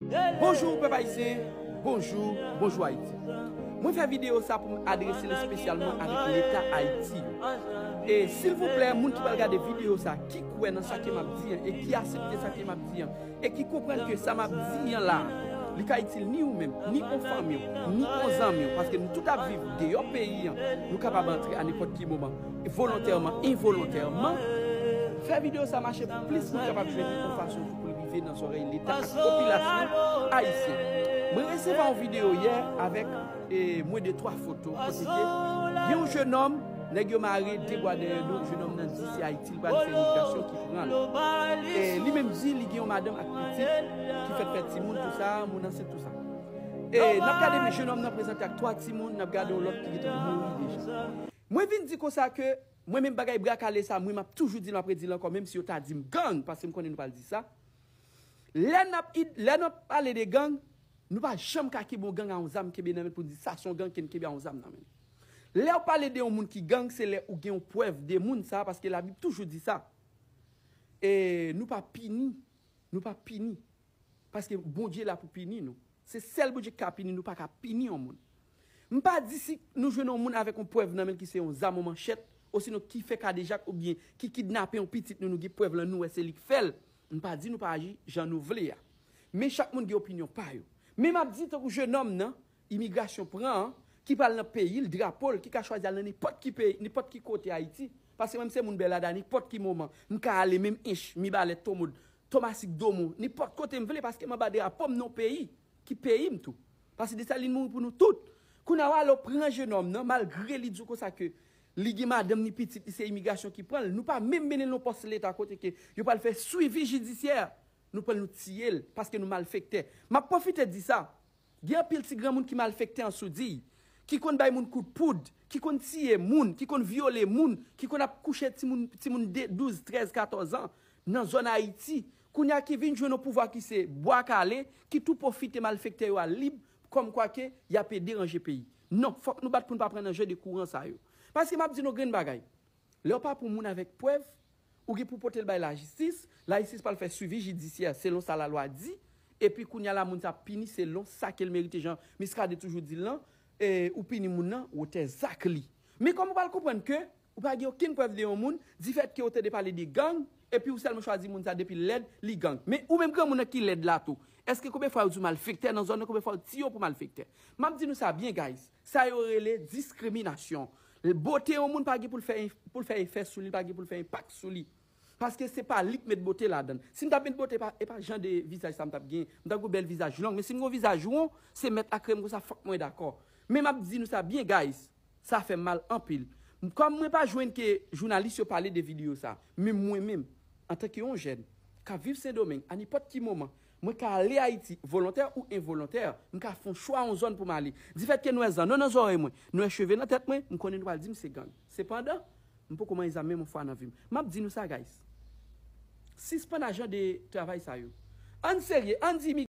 Bonjour pèp ayisyen bonjou bonjou ayiti mwen fè video sa poum adrese l spesyalman avèk leta ayiti e silvouplè moun ki pral gade video sa ki kwè nan sa ke map di an e ki asepte sa ke map di an e ki konprann ke sa map di an la li ka itil ni ou menm ni on fanmiw ni on zanmiw paske nou tout ap viv deyò peyi an nou kapab antre a nenpòt ki moman volontèman envolontèman fè video sa mache pou plis moun kapab jwenn li on fason pou rive nan zorey leta ak popilasyon ayisyen. Mwen reseva yon video yè avek mwen de 3 foto kote ke gen yon jenom neg yo mare 2 bwa dèyè do, jenom nan di se ayiti li pral fè imigrasyon ki pran l. E li menm di li gen yon madanm ak pitit ki fèk fè timoun tout sa, moun ansent tout sa. E nap gade jenom nan prezante ak 3 timoun, nap gade yon lot ki gentan mouri deja. Mwen vin di konsa ke mwen menm bagay bra kale sa mwen map toujou dil map redil ankò menm si yo ta dim gang paske m konnen nou pral di sa lè nap lè nap pale de gang nou pa janm ka kenbe yon gang a yon zam kenbe nan men poun di sa son gang ken kenbe a yon zam nan menl lèw pale de yon moun ki gang se lè ou gen yon prèv de moun sa paske la bib toujou di sa e nou pa pini nou pa pini paske Bondye la pou pini nou se sèl Bondye ki ka pini nou paka pini yon moun M pa di si nou jwenn yon moun avèk yon prèv nan men l ki se yon zam ou manchèt, osinon ki fè kadejak oubyen ki kidnape yon pitit nou nou gen prèv lan nou wè se li k fè l, m pa di nou pa aji jan nou vle a. Men chak moun gen opinyon pa yo. Men m ap di tankou jenòm nan imigrasyon pran an ki pral nan peyi l, drapo l, ki ka chwazi al nan nenpòt ki peyi, nenpòt ki kote Ayiti, paske mwen m se moun Bèlada nenpòt ki moman m ka ale menm Ench, Mibalè, Tomod, Tomasik, Domon, nenpòt kote m vle paske m anba drapo m nan yon peyi ki peyi m tou. Pase Dessalines mouri pou nou tout. Kounya wa lo pran jenòm nan malgre li diw konsa ke li gen madanm ni pitit li se imigrasyon ki pranl nou pa menm menenl non pòs leta kote ke yo pral fè swivi jidisyè nou pranl nou tiyel paske nou malfektè map pwofite di sa gen anpil ti granmoun ki malfektè an soudiy ki konn bay moun kout poud ki konn tiye moun ki konn vyole moun ki konn ap kouche timoun timoun de 12 13 14 an nan zòn ayiti Kounye a ki vin jwenn yon pouvwa ki se bwa kale, ki tou pwofite malfektè yo al lib, kòm kwa ke y ape deranje peyi. Non, fòk nou bat pou n pa pran nan je de kouran sa yo. Paske m ap di nou yon grenn bagay, lè w pa pou moun avèk prèv, ou gen pou w pote l bay lajistis, lajistis pral fè swivi jidisyè selon sa lalwa di, epi kounye a la moun sa ap pini selon sa ke l merite jan Miskaden toujou di l lan, ou pini moun nan wotè zak li. Men kòm ou pral konprann ke. Ou pa gen okenn prèv de yon moun, difèt ke ou tande pale de gang, epi ou sèlman chwazi moun sa depi l lèd, li gang. Men, ou menm granmoun nan ki lèd la tou, èske konbyen fwa yo di w malfektè nan zòn nan, konbyen fwa yo ti yo pou malfektè? M ap di nou sa byen guys, sa yo rele diskriminasyon. Bote yon moun pa gen pou l fè pou l fè efè sou li, li pa gen pou l fè enpak sou li. Paske se pa li k met bote ladann. Si m tap met bote e pa jan de vizaj sa m tap gen. M ta gou bèl vizaj long men si m gon vizaj won se mèt ak krèm konsa fòk mwen dakò. Men map di nou sa byen guys sa fèm mal anpil kòm mwen pa jwenn ke jounalis yo pale de video sa men mwen menm antanke yon jèn kap viv sendomeng a nenpòt ki moman mwen ka ale ayiti volontè ou envolontè m ka fon chwa yon zòn pou m ale difèt ke nwè zan non nan zòrèy mwen nwè cheve nan tèt mwen m konnen nou pral di m se gang. Sepandan, m poko manye zam menm yon fwa nan vi m. M ap di nou sa guys, sispann ajan de travay sa yo. Ann serye, ann di.